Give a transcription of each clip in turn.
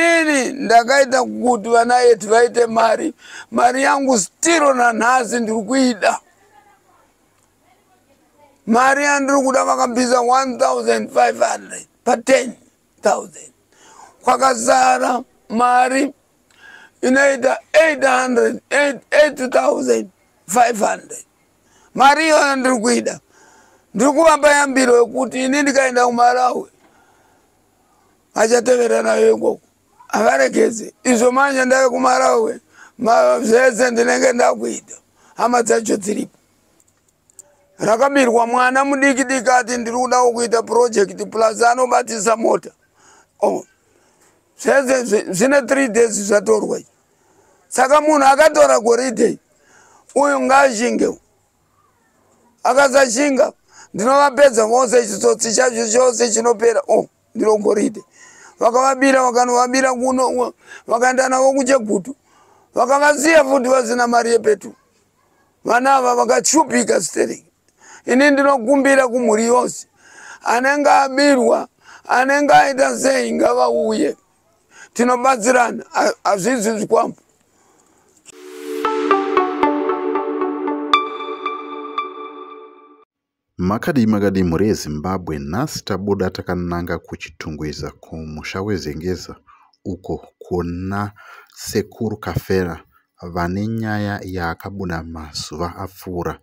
Ini ndakaita kuti vana yetu vaite mari, mari yangu stiro nanhasi ndiri kuida. Mari yandiri kuda vakabvisa 1500 pa 10000 kwakasara mari inoita 800 8500 mari iyoyo ndiri kuida ndiri kuvapa yambiro yekuti ini ndikaenda kumarawi achatevera nayo ikoko avaregedze izvo manje ndave kumarawe zvese ndinenge ndakuita hama dzacho dziripo rakabirwa mwana mudiki diki ati ndiri kudawo kuita purojekiti plus anobatisa mota oh. zvese zvine three days zvatorwa saka munhu akatora goridhe uyu ngaashinge akasashinga ndinovapedza vose chitsotsi chacho chose chinopera oh. ndiro goridhe vakavabira vakanovabira kuno vakaenda navo kuchegutu vakavasiya futi vasina mari yepetu vana ava vakashupika sterling ini ndinokumbira kumhuri yose anenge abirwa anenge aita sei ngavauye tinobatsirana hazvizi zvikwambo Makadii makadii mhuri yeZimbabwe nhasi tabuda takananga kuChitungwiza kumusha weZengeza uko kuna Sekuru Kafera vane nyaya yaakabuda mazuva apfuura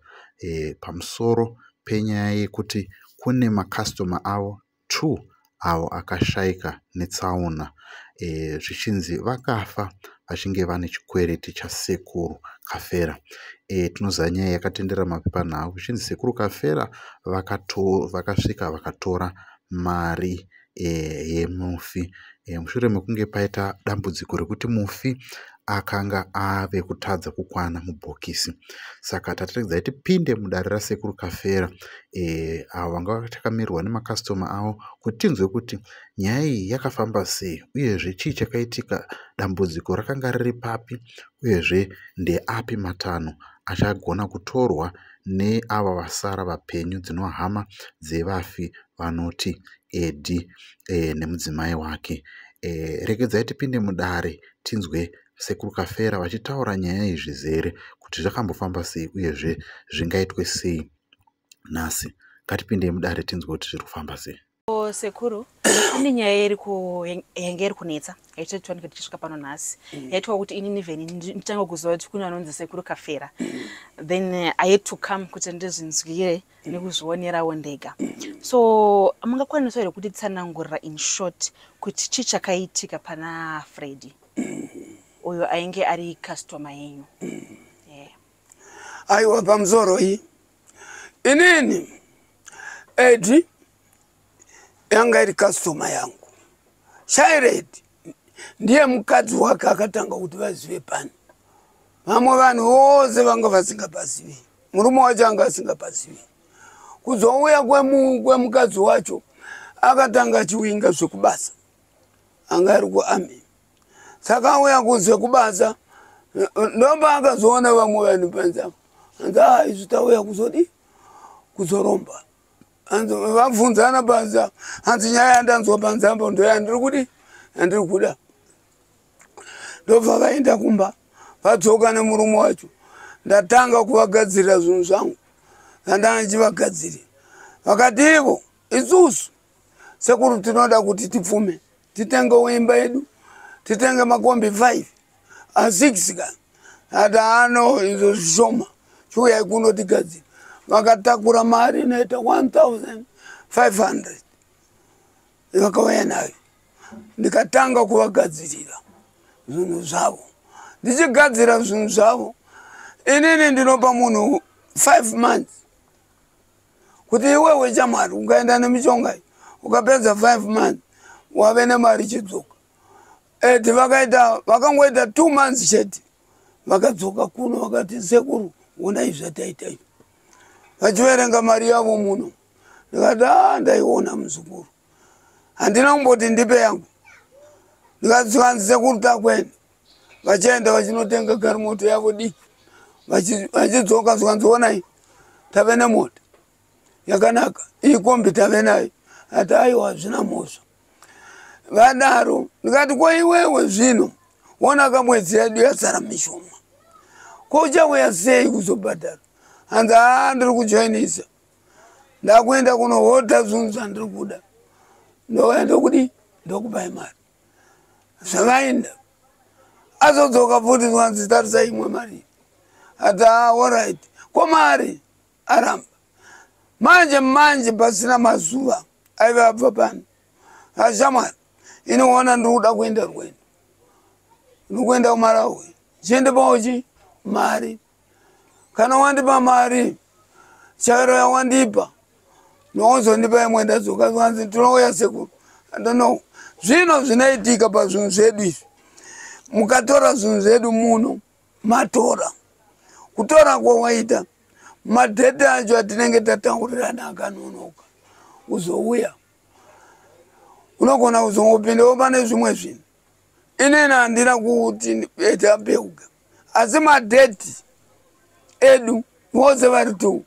e, pamusoro penyaya yekuti kune makasitoma avo 2 avo akashaika netsaona eh, zvichinzi e, vakafa vachinge vane chikwereti chasekuru kafera e, eh, tinoziva nyaya yakatendera mapepanhau zvichinzi sekuru kafera vakasvika vakatora mari e, yemufi eh, mushure mekunge paita dambudziko rekuti mufi akanga ave kutadza kukwana mubhokisi saka tataridza kuti tipinde mudare rasekuru kafera e, avo vanga takamirwa nemakastoma avo kuti tinzwe kuti nyaya iyi yakafamba sei uyezve chii chakaitika dambudziko rakanga riri papi uyezve ndeapi matanho achagona kutorwa neava vasara vapenyu dzinohama dzevafi vanoti Edi eh, nemudzimai wake. Eh, regedzai tipinde mudare tinzwe sekuru Kafera vachitaura nyaya yezvizere kuti zvakambofamba sei uyezve zvingaitwe sei nhasi. Ngatipindei mudare tinzwe kuti zviri kufamba sei. O, sekuru ine nyaya iri ku- yang- yange iri kunetsa yaitotwanike tichisvika pano nhasi yaitwa kuti ini nivheni nditange kuziva kuti kune anonzi sekuru kafera then eh, i had to come kuti ndizvinzwire nekuzvionerawo ndega so mungakwanisawo here kuti tsanangurira in short kuti chii chakaitika pana fredi uyo ainge ari customer yenyu aiwa pamusoro iyi inini edi yanga iri customer yangu shired ndiye mukadzi wake akatanga kuti vazive pani vamwe vanhu vose vanga vasingapazivi murume wacho anga asingapazivi kuzouya kwemukadzi wacho akatanga achiwinga zvekubasa anga ari kuami saka auya kuzvekubasa ndomba akazoona vamwe vanhu panzaa anzi a ah, izvi tauya kuzodi kuzoromba hanzi vabvunzana panza hanzi nyaya yandanzwa panzambo ndoyandiri kudi yandiri kuda ndobva vaenda kumba vadzoka nemurume wacho ndatanga kuvagadzirira zvinhu zvangu zandanga ndichivagadzirira vakati ivo isusu sekuru tinoda kuti tipfume titenge uimba yedu titenge makombi 5 a6 ka ati ano izvo zvishoma chiuyai kuno tigadzira vakatakura mari inoita 1500 vakauya nayo ndikatanga kuvagadzirira zvinhu zvavo ndichigadzira zvinhu zvavo inini ndinopa munhu 5 months kuti iwewe chamwari ungaenda nemishonga iyi ukapedza five months wave nemari chidzoka et vakaita vakangoita two months chete vakadzoka kuno vakati sekuru onai zvataita izvi vachiverenga mari yavo muno ndikati a ah, ndaiona muzukuru handina kumboti ndipe yangu ndikati zvikanzi sekuru takwene vachaenda vachinotenga garimoto yavo dii vachidzoka zvikanzionai tave nemota yakanaka iyi kombi tave nayo ati aiwa hazvina mhosva vadaro ndikati ko iwewe zvino wona ka mwedzi yedu yasara mishoma ko uchauya sei kuzobhadhara hanzi haa ndiri kujoinisa ndakuenda kunohota zvinhu zvandiri kuda ndouya ndokudii ndokupai mari zvakaenda azodzoka futi zvanzi tarisa imwe mari ati aorit ah, ko mari aramba manje manje pasina mazuva aive abva pano ashamwari inoona ndiri kuda kuenda rwendo ndiri kuenda kumarawi chiende paochi mari kana wandipa mari chairo yawandipa nowozondipa imwe ndadzoka vanzi tinouya sekuru andono zvino zvinoitika pazvinhu zvedu izvi mukatora zvinhu zvedu muno matora kutora kwawaita madhete acho atinenge tataurirana akanonoka uzouya unogona kuzongopinda wopane zvimwe zvinhu inini handina kuti ete apeuka asi madeti edu vose vari two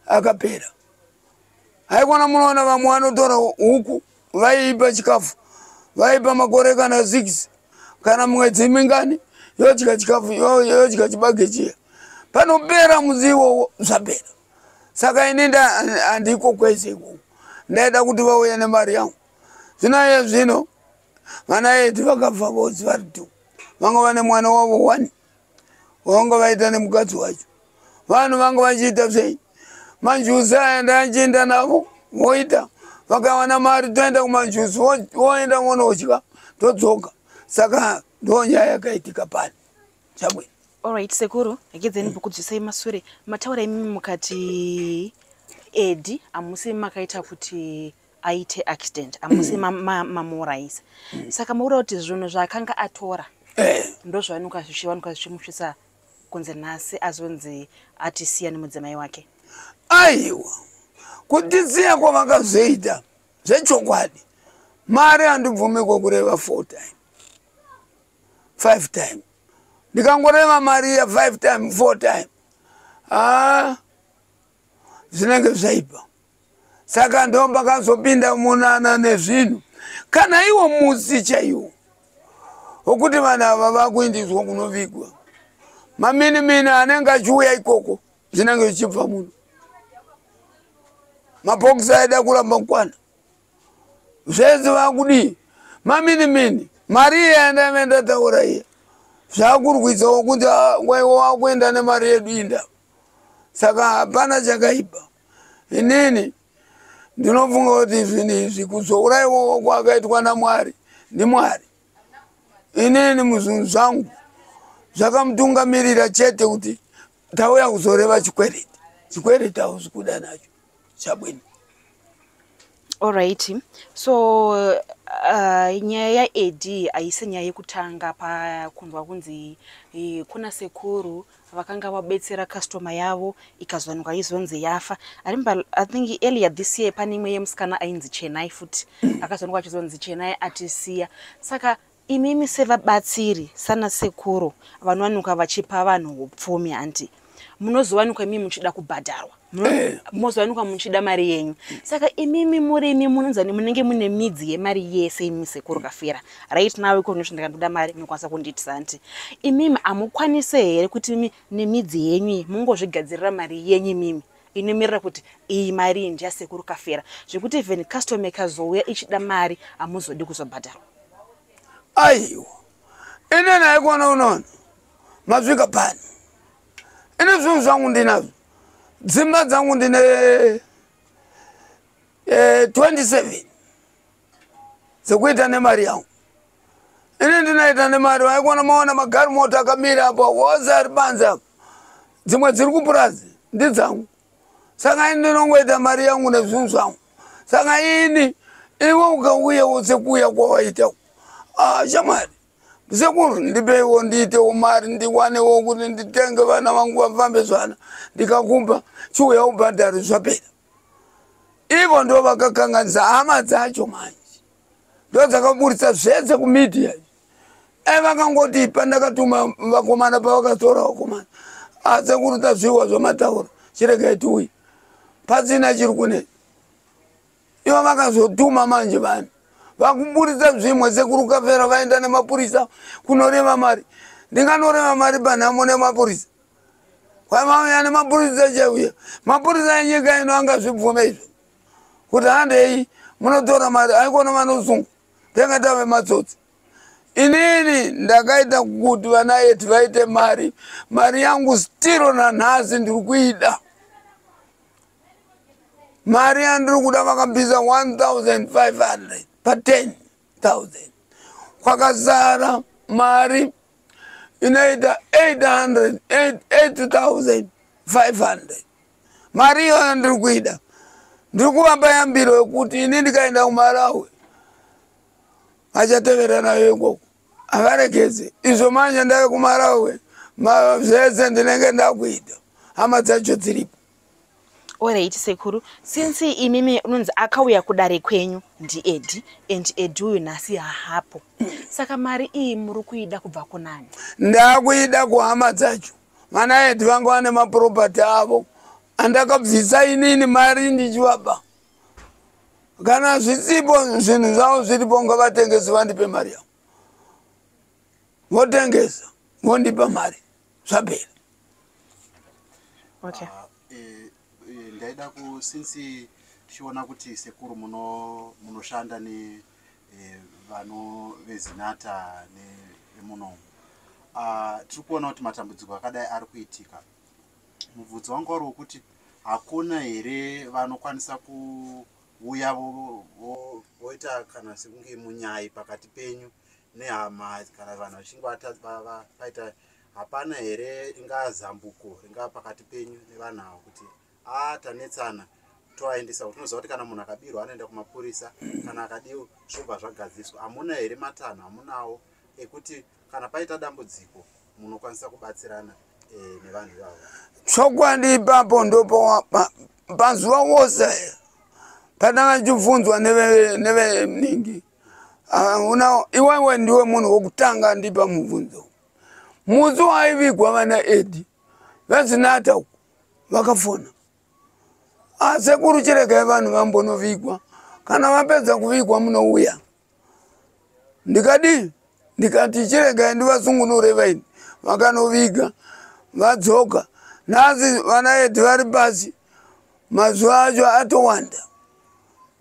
akapera haikona munoona vamwe vanotora huku vaiipa chikafu vaipa makore kana six kana mwedzi mingani yodya chikafu yodya chibage chiya panopera mudzi iwowo zvapera saka ini handiko kwese ikoko ndaida kuti vauya nemari yangu zvino iye zvino vana eti vakabva vose vari two vanga vane mwana wavo one vanga vaita nemukadzi wacho vanhu vanga vachiita sei manjuzi aya ndaachienda navo voita vakawana mari toenda kumanjuzi voenda vonodya todzoka saka ndo nyaya yakaitika pani chabwino olright sekuru agedzeni bhukudzisai masure mataura imimi mukati edi amusi makaita kuti aite accident amusi mamuurayisa saka makuda kuti zvinhu zvaakanga atora eh. ndozvainuka zvichiwanuka zvichimusvisa kunze nhasi azonzi atisiya nemudzimai wake aiwa kutisiya kwavakazoita zvechokwadi mari handibvume kwekureva four time five time ndikangoreva mari ya five time four time haa ah, zvinenge zvaipa saka ndomba kazopinda munana nezvinhu kana iwo musi chaiwo okuti vanhu ava vakuindiswa kunovigwa maminimini anenge achiuya ikoko zvinenge zvichibva muno mapokisi aida kuramba kwana zvese vakudii maminimini mari iye yandaive ndataura iye zvakurwisawo kuti waiwa wakuenda nemari yedu inda saka hapana chakaipa inini ndinofunga kuti zvinhu izvi kuzouraiwawo kwakaitwa namwari ndimwari inini muzvinhu zvangu zvakamutungamirira chete kuti tauya kuzoreva chikwereti chikwereti hauzi kuda nacho chabwini Alright. So uh, nyaya yaED haisi nyaya yekutanga pakunzwa kunzi eh, kuna sekuru vakanga vabetsera customer yavo ikazonwa izonzi yafa. I remember I think earlier this year pane imwe yemusikana ainzi Chenai futi akazonwa achizonzi Chenai atisiya. Saka Imimi sevabatsiri sana sekuru vanowanikwa vachipa vanhu hupfumi hanti munozowanikwa imimi muchida kubhadharwa eh. munozowanikwa muchida mari yenyu saka imimi murimi munonzani munenge mune midzi yemari yese imimi sekuru kafira right now iko noti ndakandoda mari munokwanisa kundiitisa hanti imimi hamukwanise here kuti imimi nemidzi yenyu iyi mungozvigadzirira mari yenyu imimi inomirira kuti iyi mari iyi ndiyasekuru kafera zvekuti even custom ikazouya ichida mari hamuzodi kuzobhadharwa aiwa ine naye kuona unono masvika pano ine zvinhu zvangu ndinazvo dzimba dzangu ndine 27 eh, dzekuita nemari yangu ini ndinoita nemari waikuona maona magari moto akamira apa wose ari banzi apa dzimwe dziri kupurazi ndidzangu saka ini ndinongoita mari yangu nezvinhu zvangu saka ini iwe ukauya wose kuuya kwawaita ah, shamwari sekuru ndipeiwo ndiitewo mari ndiwanewo kuti nditenge vana vangu vafambe zvana ndikakumba chiuya ubhadhari zvapera ivo ndo vakakanganisa hama dzacho manje ndodzakaburitsa zvese kumedia e vakangoti pandakatuma vakomana pavakatora vakomana asi kuruta zviwa zvamataura chiregai tiuye pasina chiri kune ivo vakazotuma manje vanhu vakuburitsa zvimwe sekurukafera vaenda nemapurisa kunoreva mari ndinganoreva mari panhamo nemapurisa kwamauya nemapurisa chauya mapurisa enyika ino angazvibvume izvo kuti handei munotora mari aikona vanosungu tenge tave matsotsi inini ndakaita kuti vana yeti vaite mari mari yangu stiro nanhasi ndiri kuida mari yandiri kuda vakabvisa 1500 pa 10 thousand kwakasara mari inoita 8500 mari iyoyo ndiri kuida ndiri kuvamba yambiro yekuti ini ndikaenda kumarawi achatevera nayo ikoko avaregedze izvo manje ndave kumarawi zvese ndinenge ndakuita hama dzacho dziripo Alright sekuru, since imimi unonzi akauya kudare kwenyu ndiEdi and Edi uyu nhasi hahapo. Saka mari iyi muri kuida kubva kunani? Ndakuida kuhama dzacho. Vana Edi vangu vane maproperty avo andakabvisa inini mari ndichivapa. Kana zvisipo zvinhu zvavo zviripo ngavatengesi vandipe mari yavo. Votengesa vondipa mari. zvabheri okay. uh, eh, eh, ndaida ku since tichiona kuti sekuru munoshanda muno ne eh, vano vezinata nemunomu uh, tiri kuona kuti matambudziko akadai ari kuitika mubvunzo wangu wari wekuti hakuna here vanokwanisa kuuya voita kana sekunge munyai pakati penyu nehama kana vanhu vachinge vaita hapana here ingaa zambuko ringaa pakati penyu nevanhu ava kuti a tanetsana toaendesa kuti unoziva kuti kana munhu akabirwa anoenda kumapurisa kana akadiwo zvobva zvagadziswa hamuna here matanho hamunawo ekuti kana paita dambudziko munokwanisa kubatsirana e, nevanhu ivavo chokwadi ipapo ndopo panzuva wose patanga chibvunzwa neveningi neve, Ah, una iwewe ndiwe munhu wokutanga andipa mubvunzo musi waivigwa vana edi vezinata uku vakafona asekuru ah, chiregai vanhu vambonovigwa kana vapedza kuvigwa munouya ndikadii ndikati chiregai ndivasungunure vaini vakanoviga vadzoka nhasi vana edi vari pasi mazuva acho atowanda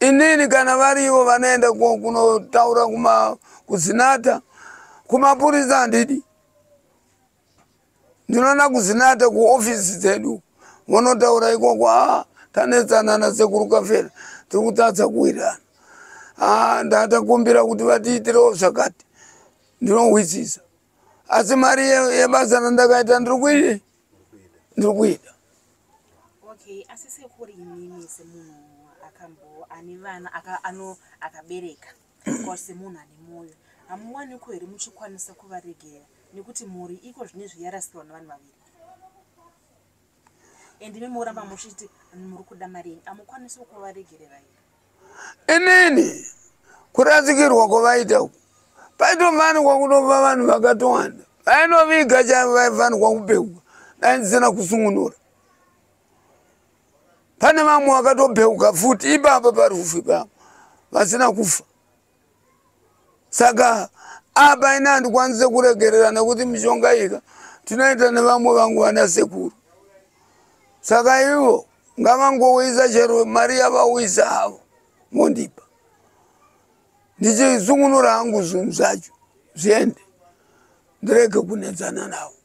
inini kana varivo vanoenda kunotaura kuma kuzinata kumapurisa handidi ndinoona kuzinata kuofisi dzedu vonotaura ikoko a ah, tanetsana nasekuru kafera tiri kutadza kuwirana a ah, ndatakumbira kuti vatiitirewo zvakati ndinohwisisa asi mari yebasa randakaita ndiri kuii ndiri kuida okay asi sekuri imimi semunhu akambo ane vana ano akabereka kwa semunhu ane mwoyo hamuwaniko here muchikwanisa kuvaregera nekuti mhuri iko zvine zviyarasikirwa nevanhu vaviri and imi moramba muchiti muri kuda mari yenyu amukwanisi kuvaregerera here inini kurasikirwa kwavaita uku paitofanirwa kunova vanhu vakatowanda vainoviga chavo vaifanirwa kupeuka dai ndisina kusungunura pane vamwe vakatopeuka futi ipapo parufu ipapo vasina kufa saka apa ini handikwanise kuregerera nekuti mishonga ika tinoita nevamwe vangu vana sekuru saka ivo ngavangouyisa chero mari yavauyisa havo mondipa ndichisungunura hangu zvinhu zvacho zviende ndirege kunetsana navo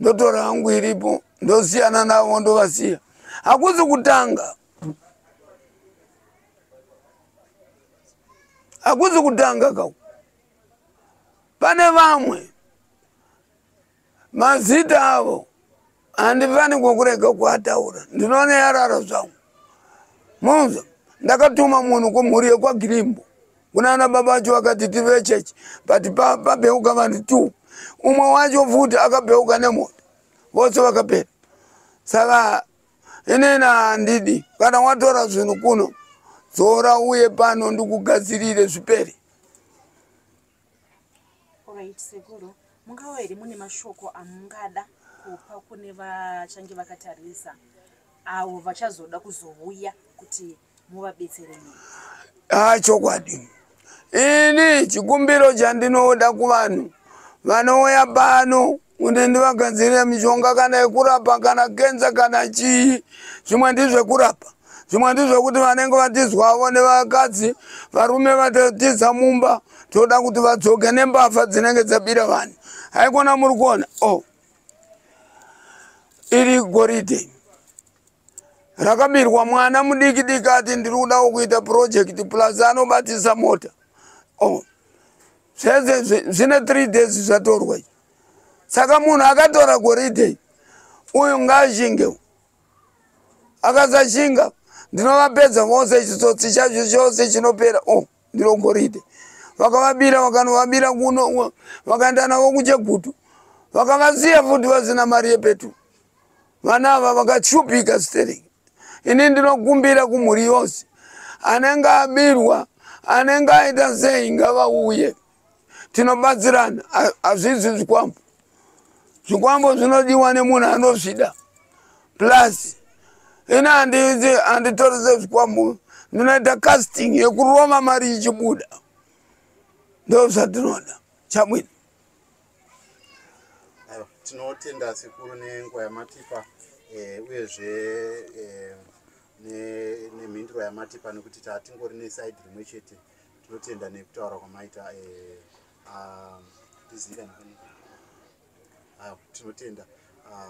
ndotora hangu iripo ndosiyana navo ndovasiya hakuzi kutanga hakuzi kutanga kau pane vamwe mazita avo handifani kwokurega kuataura ndinoona yarara zvangu munza ndakatuma munhu kumhuri yekwagirimbo kunana baba vacho vakati tive church but pabheuka vanhu two umwe wacho futi akabheuka nemoto vose vakapera saka inini handidi kana watora zvinhu kuno dzora uye pano ndikugadzirire zvipere right, sekuru mungawo here mune mashoko amungada kupa kune vachange vakatarisa avo vachazoda kuzouya kuti muvabetsere haa ah, chokwadi ini chikumbiro chandinoda kuvanhu vanouya pano kuti ndivagadzirire mishonga kana yekurapa kana kenza kana chii zvimwe ndizvekurapa zvimwe ndizvekuti vanenge vatizwavo nevakadzi varume vatotiza mumba toda kuti vadzoke nembavha dzinenge dzabira vanhu haikona muri kuona o oh. iri goridhe rakabirwa mwana mudiki diki ati ndiri kudawo kuita purojekiti plus anobatisa mota oh. zvese zvine three days zvatorwa i saka munhu akatora goridhe uyu ngaashinge akasashinga ndinovapedza vose chitsotsi chacho chose chinopera oh. ndiro goridhe vakavabira vakanovabira kuno vakaenda navo kuchegutu vakavasiya futi vasina mari yepetu vana ava vakashupika sterling ini ndinokumbira kumhuri yose anenge abirwa anenge aita sei ngavauye tinobatsirana hazvizi zvikwambo zvikwambo zvinodiwa nemunhu anozvida plus ini handitorise zvikwambo ndinoita casting yekuroma mari ichibuda ndo zvatinoda chamwini tinotenda sekuru nenguva yamatipa eh, uyezve eh, nemhinduro yamatipa nekuti tatingori neside rimwe chete tinotenda nekutaura kwamaita eh, ah, tizive ah, tinotenda ah,